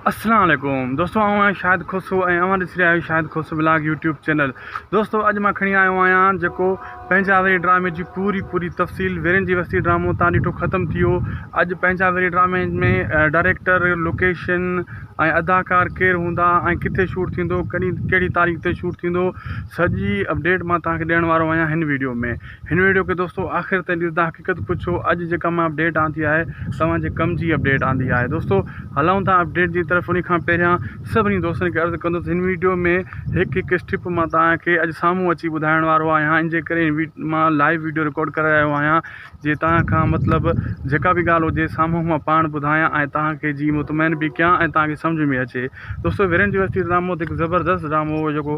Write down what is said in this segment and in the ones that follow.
اسلام عليڪم دوستو آئون آهيان شاهد کوسو ۽ اوهان ڏسي رهيا آهيو Shahid Khoso vlog YouTube channel دوستو اڄ مان کڻي آيو آهيان جيڪو پنهنجا ويري ڊرامي جي پوري پوري تفصيل ويرين جي وستي ڊرامو تان ڏٺو ختم ٿي ويو اڄ پنهنجا ويري ڊرامي ۾ ڊائريڪٽر لوڪيشن ۽ اداڪار ڪير هوندا ۽ ڪٿي شوٽ ٿيندو ڪڏهن ڪهڙي تاريخ تي شوٽ ٿيندو سڄي اپڊيٽ مان تان کي ڏيڻ وارو آهيان هن ويڊيو ۾ هن ويڊيو کي دوستو آخر تائين ڏسو تان حقيقت پڇو اڄ جيڪا مان اپڊيٽ آندي آهي توهان جي ڪم جي اپڊيٽ آندي آهي دوستو هلون ٿا اپڊيٽ جي طرف ان کان پهريان سڀني دوستن کي عرض ڪندو هن ويڊيو ۾ هڪ هڪ اسٽيپ مان توهان کي اڄ سامهون اچي ٻڌائڻ وارو آهيان ان جي ڪري مان لائيو ويڊيو رڪارڊ ڪري رهيو آهيان جي توهان کان مطلب جيڪا به ڳالهه هجي سامهون مان پاڻ ٻڌايان ۽ توهان کي جي مطمئن به ڪيان ۽ توهان کي سمجھ ۾ اچي دوستو ويرين جي وستي ڊرامو هڪ زبردست ڊرامو هو جيڪو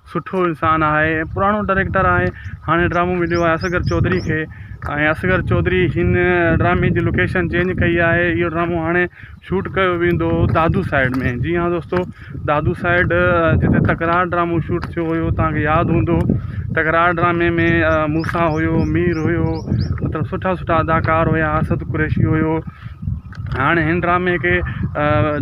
سٺو انسان آهي ۽ پراڻو ڊائريڪٽر آهي هاڻي ڊرامو مليو آهي اصغر چوڌري کي ۽ اصغر چوڌري هن ڊرامي جي لوڪيشن چينج ڪئي آهي اهو ڊرامو هاڻي شوٽ ڪيو ويندو دادو سائيڊ ۾ جي هان دوستو دادو سائيڊ جتي تڪرار ڊرامو شوٽ ٿيو هيو توهان کي ياد هوندو تڪرار ڊرامي ۾ موسا هيو مير هيو مطلب سٺا سٺا اداڪار هيا اسد قريشي هيو هاڻ هن ڊرامي کي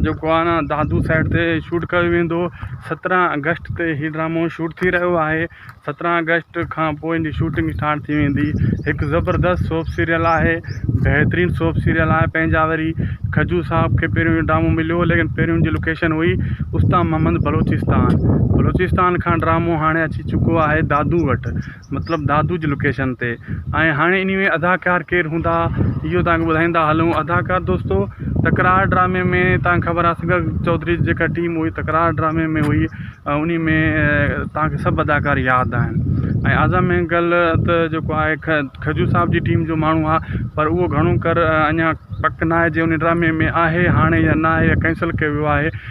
جيڪو آهي نه دادو سيٽ تي شوٽ ڪيو ويندو سترهن اگسٽ تي هي ڊرامو شوٽ ٿي رهيو آهي سترهن اگسٽ کان پوء ان جي شوٽنگ اسٽارٽ ٿي ويندي هڪ زبردست سوپ سيريل آهي بهترين سوپ سيريل آهي پنهنجا وري کجو صاحب کي پهريون هي ڊرامو مليو ليڪن پهريون جي لوڪيشن هئي استان محمد بلوچستان بلوچستان کان ڊرامو هاڻي اچي چڪو آهي دادو وٽ مطلب دادو جي لوڪيشن تي ۽ هاڻي انهي ۾ اداڪار ڪير هوندا اهو توهان کي ٻڌائيندا هلون اداڪار دوستو تڪرار ڊرامي ۾ توهان کي خبر آهي اصغر چوڌري جي جيڪا ٽيم هئي تڪرار ڊرامي ۾ هئي انهي ۾ توهان کي سڀ اداڪار ياد آهن ۽ اعظم مينگل ته جيڪو آهي کجو صاحب جي ٽيم جو ماڻهو آهي پر اهو گهڻو ڪر اڃان پڪ ناهي جي انهي ڊرامي ۾ آهي هاڻي يا ناهي يا ڪينسل ڪيو ويو آهي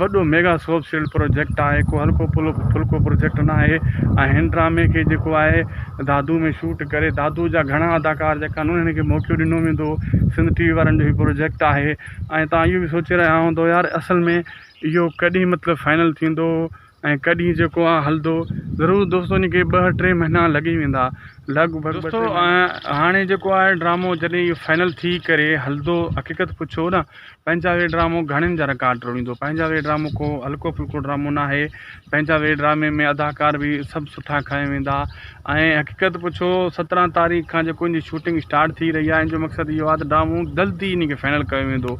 وڏو ميگا سوپ سيلڊ پروجيڪٽ آهي ڪو هلڪو ڦلڪو پروجيڪٽ نه آهي ۽ هن ڊرامي کي جيڪو آهي دادو ۾ شوٽ ڪري دادو جا گهڻا اداڪار جيڪا آهن انهن کي موقعو ڏنو ويندو سنڌ ٽي وي وارن جو هي پروجيڪٽ آهي ۽ تان اهو به سوچي رهيا هوندو يار اصل ۾ اهو ڪڏهن مطلب فائنل ٿيندو ۽ ڪڏهن جيڪو آ هلندو ضرور دوستو ان کي ٻه ٽي مهينا لڳي ويندا لڳ ڀڳ دوستو هاڻي جيڪو آهي ڊرامو جڏهن اهو فائنل ٿي ڪري هلندو حقيقت پڇو نه پنهنجا وي ڊرامو گهڻين جا رڪارڊ ٽوڙيندو پنهنجا وي ڊرامو ڪو هلڪو ڦلڪو ڊرامو نه آهي پنهنجا وي ڊرامي ۾ اداڪار به سڀ سٺا کنيا ويندا ۽ حقيقت پڇو سترهن تاريخ کان جيڪو ان جي شوٽنگ اسٽارٽ ٿي رهي آهي ان جو مقصد اهو آهي ته ڊرامو جلدي ان کي فائنل ڪيو ويندو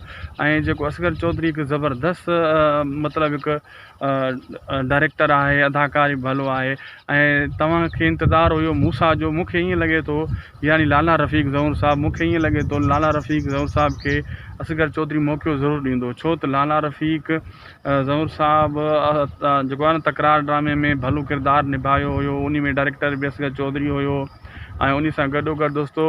۽ جيڪو اصغر چوڌري هڪ زبردست مطلب هڪ ڊائريڪٽر آهي اداڪار به ڀلو آهي ۽ تواں کي انتظار هيو مون سان جو مونکي ائين لڳي ٿو يعني لالا رفيق زئور صاحب مونکي ائين لڳي ٿو لالا رفيق زئور صاحب کي اصغر چوڌري موقعو ضرور ڏيندو ڇو ته لالا رفيق زئور صاحب جيڪو آهي نه تڪرار ڊرامي ۾ ڀلو ڪردار نڀايو هيو انهي ۾ ڊائريڪٽر به اصغر چوڌري هيو ۽ انهي سان گڏو گڏ دوستو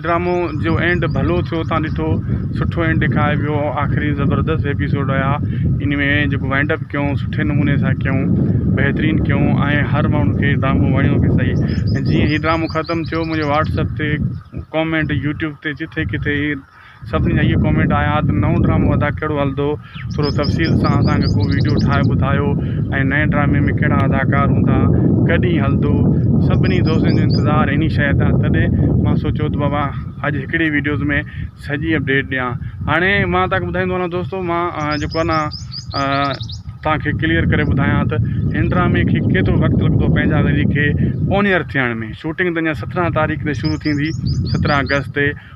ڊرامو جو اينڊ ڀلو ٿيو تان ڏٺو سٺو اينڊ ڏيکاري ويو آخري زبردست ايپيسوڊ رهيا ان ۾ جيڪو وائنڊ اپ ڪيون سٺي نموني سان ڪيون بهترين ڪيون ۽ هر ماڻهو کي ڊرامو وڻيو به سهي ۽ جيئن هي ڊرامو ختم ٿيو منهنجي واٽسپ تي ڪامينٽ يوٽيوب تي جٿي ڪٿي سڀني جا اهي ڪامينٽ آيا ته نئون ڊرامو ادا ڪهڙو هلندو ٿورو تفصيل سان اسان کي ڪو ويڊيو ٺاهي ٻڌايو ۽ نئين ڊرامي ۾ ڪهڙا اداڪار هوندا ڪڏهن هلندو سڀني دوستن جو انتظار انهي شيء تان تڏهن مان سوچيو ته بابا اڄ هڪڙي ويڊيوز ۾ سڄي اپڊيٽ ڏيان هاڻي مان تان ٻڌائيندو هلان دوستو مان جيڪو آهي نا تان کي ڪليئر ڪري ٻڌايان ته هن ڊرامي کي ڪيترو وقت لڳندو پنهنجا وري کي اونيئر ٿيڻ ۾ شوٽنگ ته اڃا سترهن تاريخ تي شروع ٿيندي سترهن اگست تي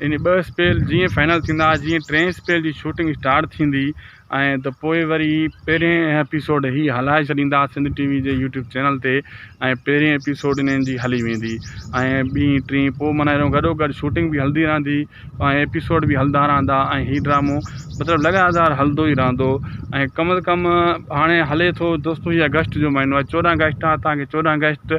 يعني ٻه اسپيل جيئن فائنل ٿيندا جيئن ٽين اسپيل جي شوٽنگ اسٽارٽ ٿيندي ۽ ته پوء وري پهرين ايپيسوڊ هي هلائي ڇڏيندا سنڌ ٽي وي جي يوٽيوب چينل تي ۽ پهرين ايپيسوڊ انهن جي هلي ويندي ۽ ٻي ٽي پوء معنيٰ اهڙو گڏو گڏ شوٽنگ به هلندي رهندي ۽ ايپيسوڊ به هلندا رهندا ۽ هي ڊرامو مطلب لڳاتار هلندو ئي رهندو ۽ ڪم از ڪم هاڻي هلي ٿو دوستو هي اگسٽ جو مهينو آهي چوڏهن اگسٽ آهي تانکي چوڏهن اگسٽ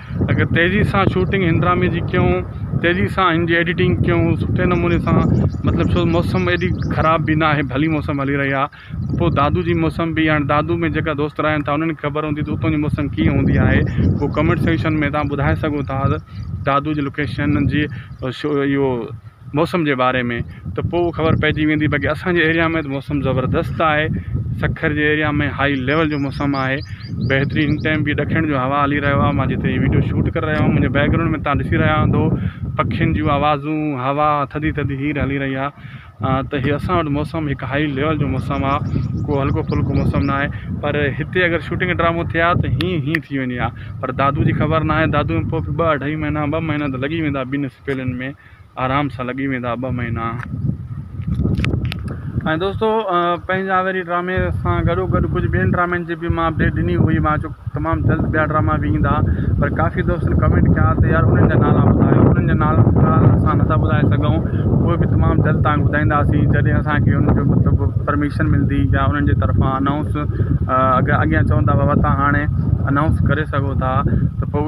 اگر تيزي سان شوٽنگ هن ڊرامي جي ڪيون تيزي سان هن جي ايڊيٽنگ ڪيون سٺي نموني سان مطلب ڇو موسم ايڏي خراب بي ناهي ڀلي موسم هلي رهي آهي پوء دادو جي موسم بي هاڻي دادو ۾ جيڪا دوست رهن ٿا انهن کي خبر هوندي ته اتون جي موسم ڪيئن هوندي آهي پوء ڪمينٽ سيڪشن ۾ تان ٻڌائي سگهو ٿا دادو جي لوڪيشن جي شو اهو موسم جي باري ۾ ته پوء خبر پئجي ويندي باقي اسان جي ايريا ۾ ته موسم زبردست آهي سکر جي ايريا ۾ هائي ليول جو موسم آهي بهترين هن ٽائيم به ڏکڻ جو هوا هلي رهيو آهي مان جتي هي وڊيو شوٽ ڪري رهيو آهيان منهنجي بيڪگرائونڊ ۾ تهان ڏسي رهيا هوندو پکين جون آوازون هوا ٿڌي ٿڌي هير هلي رهي آهي ته هي اسان وٽ موسم هڪ هائي ليول جو موسم آهي ڪو هلڪو ڦلڪو موسم نه آهي پر هتي اگر شوٽنگ ڊرامو ٿئي ها ته هيئن هيئن ٿي وڃي ها پر دادو جي خبر نه آهي دادو ۾ پوء ٻه اڍائي مهينا ٻه مهينا ته لڳي ويندا ٻنهي سپيلن ۾ آرام سان لڳي ويندا ٻه مهينا ۽ دوستو پنهنجا وري ڊرامي سان گڏو گڏ ڪجهه ٻين ڊرامن جي بي مان اپڊيٽ ڏني هئي مان چيو تمام جلد ٻيا ڊراما به ايندا پر ڪافي دوستن ڪمينٽ ڪيا ته يار انهن جا نالا ٻڌايو انهن جا نالا اسان نٿا ٻڌائي سگهون اهي به تمام جلد تانک ٻڌائينداسين جڏهن اسانکي انهن جو مطلب پرميشن ملندي يا انهن جي طرفان انائونس اڳيان چوندا بابا تان هاڻي انائونس ڪري سگهو ٿا ته پوء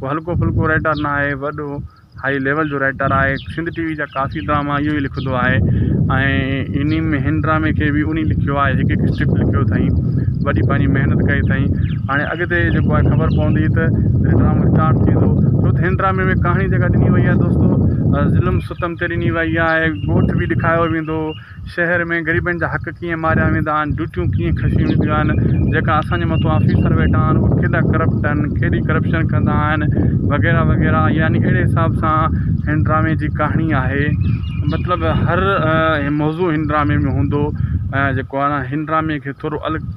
ڪو هلڪو ڦلڪو رائيٽر نه آهي وڏو هائي ليول جو رائيٽر آهي سنڌ ٽي وي جا ڪافي ڊراما اهو ئي لکندو آهي ۽ انهي ۾ هن ڊرامي کي به انهي لکيو آهي هڪ هڪ اسڪرپٽ لکيو اٿائين وڏي پنهنجي محنت ڪئي اٿائين هاڻي اڳتي جيڪو آهي خبر پوندي ته جڏهن ڊرامو اسٽارٽ ٿيندو ڇو ته هن ڊرامي ۾ ڪهاڻي جيڪا ڏني وئي آهي دوستو ظلم ستم تي ڏني وئي آهي ڳوٺ به ڏيکايو ويندو شهر ۾ غريبن جا حق ڪيئن ماريا ويندا آهن، ڊيوٽيون ڪيئن کشيون وينديون آهن، جيڪا اسان جي مٿو آفيسر ويٺا آهن اهي ڪيڏا ڪرپٽ آهن، ڪيڏي ڪرپشن ڪندا آهن وغيره وغيره يعني اهڙي حساب سان هن ڊرامي جي ڪهاڻي آهي مطلب هر موضوع هن ڊرامي ۾ هوندو ۽ جيڪو آهي نا هن ڊرامي کي ٿورو الڳ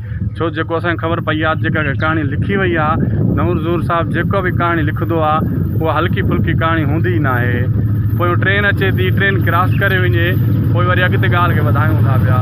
ڇو جيڪو اسان کي خبر پئي آ جيڪا ڪا ڪهاڻي لکي وئي آ نور حضور صاحب جيڪا به ڪهاڻي لکندو آ اها هلڪي ڦلڪي ڪهاڻي هوندي ئي ناهي پويون ٽرين اچي ٿي ٽرين ڪراس ڪري وڃي پوء وري اڳتي ڳالهه کي وڌايون ٿا پيا.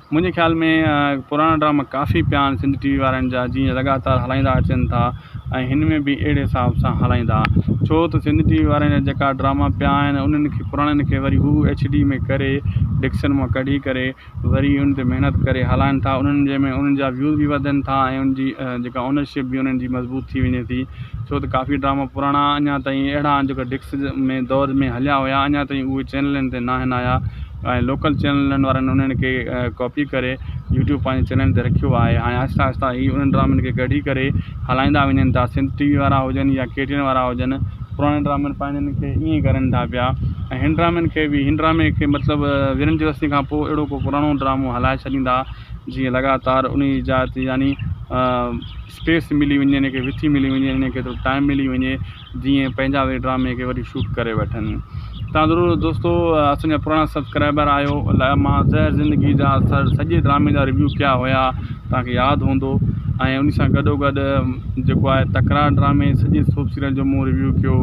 منهنجي خيال ۾ پراڻا ڊراما ڪافي پيا آهن سنڌ ٽي وي وارن جا جيئن لڳاتار هلائيندا اچن ٿا ۽ هن ۾ به اهڙي حساب سان هلائيندا ڇو ته سنڌ ٽي وي وارن جا جيڪا ڊراما پيا آهن انهن کي پراڻن کي وري هو ايڇ ڊي ۾ ڪري ڊڪشن مان ڪڍي ڪري وري ان تي محنت ڪري هلائن ٿا انهن جي ۾ انهن جا ويوز به وڌن ٿا ۽ ان جي جيڪا اونرشپ به انهن جي مضبوط ٿي وڃي ٿي ڇو ته ڪافي ڊراما پراڻا اڃا تائين اهڙا آهن جيڪا ڊڪس ۾ دور ۾ هليا هيا اڃا تائين اهي چينلن تي ناهن آيا ۽ لوڪل چينلن وارن انهن کي ڪاپي ڪري يوٽيوب پنهنجي چينل تي رکيو آهي هاڻي آهستي آهستي هي انهن ڊرامن کي ڪڍي ڪري هلائيندا وڃن ٿا سنڌ ٽي وي وارا هجن يا ڪي ٽي اين وارا هجن پراڻن ڊرامن پنهنجن کي ائين ئي ڪرن ٿا پيا ۽ هن ڊرامن کي بي هن ڊرامي کي مطلب ويرن جي رستي کان پوء اهڙو ڪو پراڻو ڊرامو هلائي ڇڏيندا جيئن لڳاتار انهي جي جاء تي يعني اسپيس ملي وڃي ان کي وٿي ملي وڃي ان کي ٿورو ٽائم ملي وڃي جيئن پنهنجا وي ڊرامي کي وري شوٽ ڪري وٺن تان ضرور دوستو اسان جا پراڻا سبسڪرائبر آهيو الاء مان زهر زندگي جا سڄي ڊرامي جا ريويو ڪيا هيا تانکي ياد هوندو ۽ ان سان گڏو گڏ جيڪو آهي تڪرار ڊرامي سڄي سوپ سيريل جو مون ريويو ڪيو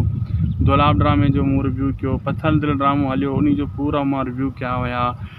دولاب ڊرامي جو مون ريويو ڪيو پٿل دل ڊرامو هليو ان جو پورا مان ريويو ڪيا هيا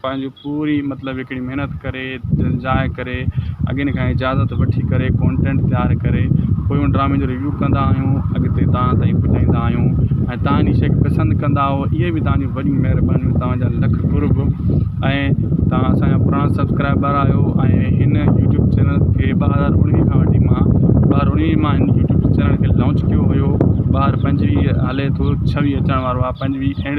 پنهنجي پوري مطلب هڪڙي محنت ڪري جاء ڪري اڳين کان اجازت وٺي ڪري ڪونٽينٽ تيار ڪري پوء ان ڊرامي جو ريويو ڪندا آهيون اڳتي تان تائين پڄائيندا آهيون ۽ تان جي شئي کي پسند ڪندا آهو اهي به تان جي وڏي مهربانيون تان جا لک قرب ۽ تان اسان جا پراڻا سبسڪرائبر آهيو ۽ هن يوٽيوب چينل کي ٻه هزار اڻويهه کان وٺي مان ٻه هزار اڻويهه مان هن يوٽيوب چينل کي لانچ ڪيو هيو ٻه هزار پنجويهه هلي ٿو ڇويهه اچڻ وارو آهي پنجويهه اينڊ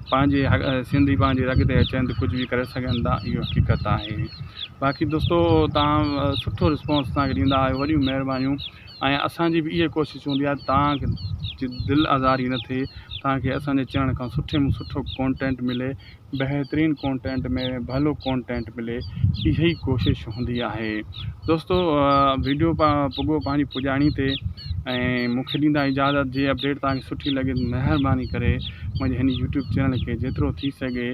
پنهنجي سنڌي پنهنجي اڳتي اچن ته ڪجهه به ڪري سگهن ٿا اهو حقيقت آهي باقي دوستو تان سٺو رسپانس اسانکي ڏيندا آهيو وڏيون مهربانيون ۽ اسانجي به اهي ڪوشش هوندي آهي تانکي جي دل آزاري نه ٿئي تانکي اسانجي چينل کان سٺي ۾ سٺو ڪونٽينٽ ملي بهترين ڪونٽينٽ ۾ ڀلو ڪونٽينٽ ملي اهي ڪوشش هوندي آهي دوستو ويڊيو پڳو پنهنجي پڄاڻي تي ۽ مون کي ڏيندا اجازت جي اپڊيٽ توهان کي سٺي لڳي مهرباني ڪري منهنجي هن يوٽيوب چينل کي جيترو ٿي سگهي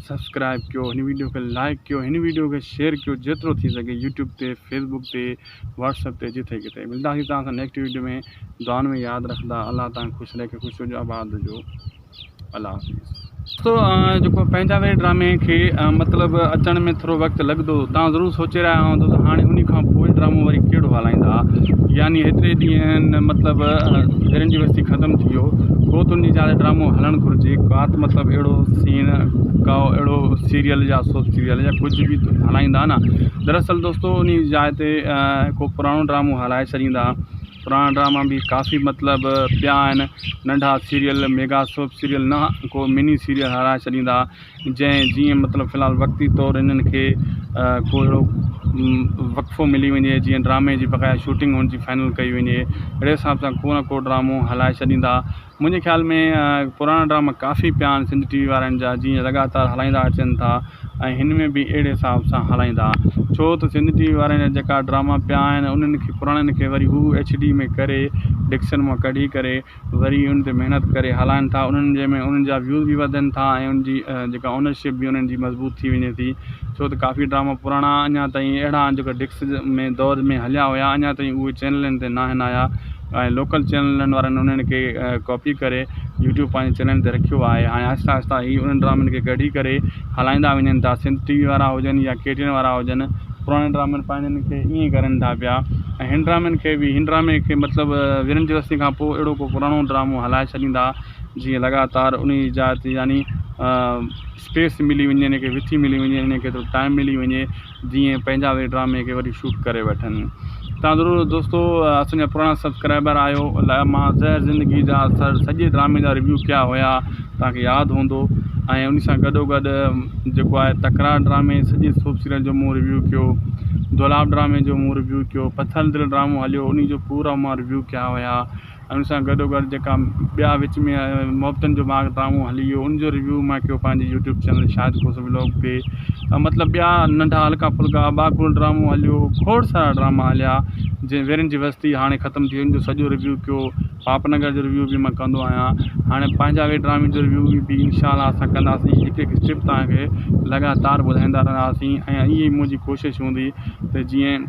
سبسڪرائب ڪيو هن ويڊيو کي لائڪ ڪيو هن ويڊيو کي شيئر ڪيو جيترو ٿي سگهي يوٽيوب تي فيسبوڪ تي واٽس اپ تي جتي ڪتي ملداسي توهان سان نيڪسٽ ويڊيو ۾ دعائن ۾ ياد رکدا الله توهان کي خوش رکي خوش هجو آباد هجو الله حافظ دوستو جيڪو پنهنجا وير ڊرامي کي مطلب اچڻ ۾ ٿورو وقت لڳندو تان ضرور سوچي رهيا هوندو ته هاڻي انهي کان پوء ڊرامو وري ڪهڙو هلائيندا يعني هيتري ڏينهن مطلب ويرن جي وستي ختم ٿي ويو پوء ته انهي جا ڊرامو هلڻ گهرجي ڪات مطلب اهڙو سين ڪا اهڙو سيريل يا سوپ سيريل يا ڪجهه به هلائيندا نه دراصل دوستو انهي جاء تي ڪو پراڻو ڊرامو هلائي ڇڏيندا پراڻا ڊراما به ڪافي مطلب پيا آهن ننڍا سيريل ميگا سوپ سيريل نه ڪو مني سيريل هارائي ڇڏيندا جنهن جيئن مطلب في الحال وقتي طور هنن کي ڪو اهڙو وقفو ملي وڃي جيئن ڊرامي جي بقايا شوٽنگ هن جي فائنل ڪئي وڃي اهڙي حساب سان ڪو نه ڪو ڊرامو هلائي ڇڏيندا منهنجي خيال ۾ پراڻا ڊراما ڪافي پيا آهن سنڌ ٽي وي وارن جا جيئن لڳاتار هلائيندا اچن ٿا ۽ هن ۾ به اهڙي حساب سان هلائيندا ڇو ته سنڌ ٽي وي وارن جا جيڪا ڊراما پيا آهن انهن کي پراڻن کي وري هو ايڇ ڊي ۾ ڪري ڊڪشن مون ڪڍي ڪري وري ان تي محنت ڪري هلائن ٿا انهن جي ۾ انهن جا ويوز به وڌن ٿا ۽ ان جي جيڪا اونرشپ به انهن جي مضبوط ٿي وڃي ٿي ڇو ته ڪافي ڊراما پراڻا اڃا تائين اهڙا آهن جيڪا ڊڪس ۾ دور ۾ هليا هيا اڃا تائين اهي چينلن تي ناهن آيا ۽ لوڪل چينلن وارن انهن کي ڪاپي ڪري يوٽيوب پنهنجي چينل تي رکيو آهي هاڻي آهستي آهستي هي انهن ڊرامن کي ڪڍي ڪري هلائيندا وڃن ٿا سنڌ ٽي وي وارا هجن يا ڪي ٽي اين وارا هجن پراڻن ڊرامن پنهنجن کي ائين ئي ڪرن ٿا پيا ۽ هن ڊرامن کي بي هن ڊرامي کي مطلب ويرن جي وستين کان پوء اهڙو ڪو پراڻو ڊرامو هلائي ڇڏيندا جيئن لڳاتار انهي جي جاء تي يعني اسپيس ملي وڃي ان کي وٿي ملي وڃي ان کي ٿورو ٽائيم ملي وڃي جيئن پنهنجا وي ڊرامي کي وري شوٽ ڪري وٺن تان ضرور دوستو اسان جا پراڻا سبسڪرائبر آهيو لاء مان زهر زندگي جا سڄي ڊرامي جا ريويو ڪيا هيا تان کي ياد هوندو ۽ ان سان گڏو گڏ جيڪو آهي تڪرار ڊرامي سڄي سوپ سيريل جو مون ريويو ڪيو دولاب ڊرامي جو مون ريويو ڪيو پٿل دل ڊرامو هليو ان جو پورا مان ريويو ڪيا هيا ان سان گڏوگڏ جيڪا ٻيا وچ ۾ محبتن جو باغ ڊرامو هلي ويو ان جو ريويو ماهه ڪيو پنهنجي YouTube channel Shahid Khos vlog تي مطلب ٻيا ننڍا هلڪا ڦلڪا اباگل ڊرامو هليو کوڙ سارا ڊراما هليا جي ويرين جي وستي هاڻي ختم ٿي ان جو سڄو ريويو ڪيو پاپ نگر جو ريويو بي مان ڪندو آهيان هاڻي پنهنجا وي ڊرامي جو ريويو بي ان شاء الله اسان ڪنداسين هڪ هڪ اسٽيپ تهانکي لڳاتار ٻڌائيندا رهنداسين ۽ اهي منهنجي ڪوشش هوندي ته جيئن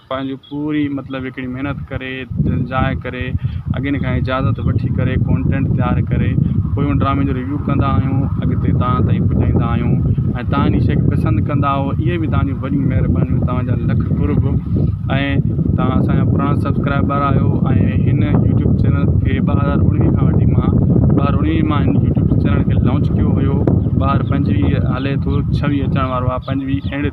پنهنجي پوري مطلب هڪڙي محنت ڪري جاء ڪري اڳين کان اجازت وٺي ڪري ڪونٽينٽ تيار ڪري پوء ان ڊرامي جو ريويو ڪندا آهيون اڳتي تان تائين پڄائيندا آهيون ۽ تان ان شئي کي پسند ڪندا آهو اهي به تان جون وڏيون مهربانيون تان جا لک قرب ۽ تان اسان جا پراڻا سبسڪرائبر آهيو ۽ هن يوٽيوب چينل کي ٻه هزار اڻويهه کان وٺي مان ٻه هزار اڻويهه مان هن يوٽيوب چينل کي لانچ ڪيو هيو ٻه هزار پنجويهه هلي ٿو ڇويهه اچڻ وارو آهي پنجويهه اينڊ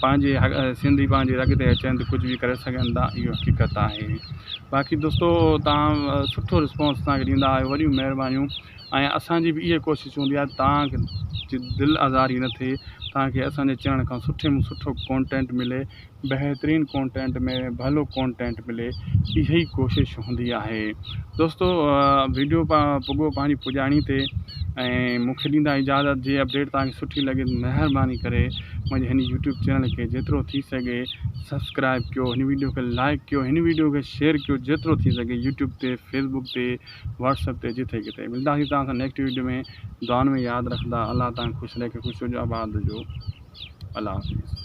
پنهنجي سنڌي پنهنجي رڳ تي اچن ته ڪجهه به ڪري سگهن ٿا اهو حقيقت آهي باقي دوستو تان سٺو رسپانس اسانکي ڏيندا آهيو وڏيون مهربانيون ۽ اسانجي به اهي ڪوشش هوندي آهي تان جي دل آزاري نه ٿئي تانڪي اسانجي چينل کان سٺي ۾ سٺو ڪونٽينٽ ملي بهترين ڪونٽينٽ ۾ ڀلو ڪونٽينٽ ملي اهي ڪوشش هوندي آهي دوستو ويڊيو پڳو پنهنجي پڄاڻي تي ۽ مون کي ڏيندا اجازت جي اپڊيٽ توهان کي سٺي لڳي مهرباني ڪري منهنجي هن يوٽيوب چينل کي جيترو ٿي سگهي سبسڪرائب ڪيو هن ويڊيو کي لائڪ ڪيو هن ويڊيو کي شيئر ڪيو جيترو ٿي سگهي يوٽيوب تي فيسبوڪ تي واٽس اپ تي جتي ڪتي ملنداسي توهان سان نيڪسٽ ويڊيو ۾ دعائن ۾ ياد رکندا الله توهان خوش رکي خوش هجو آباد هجو الله حافظ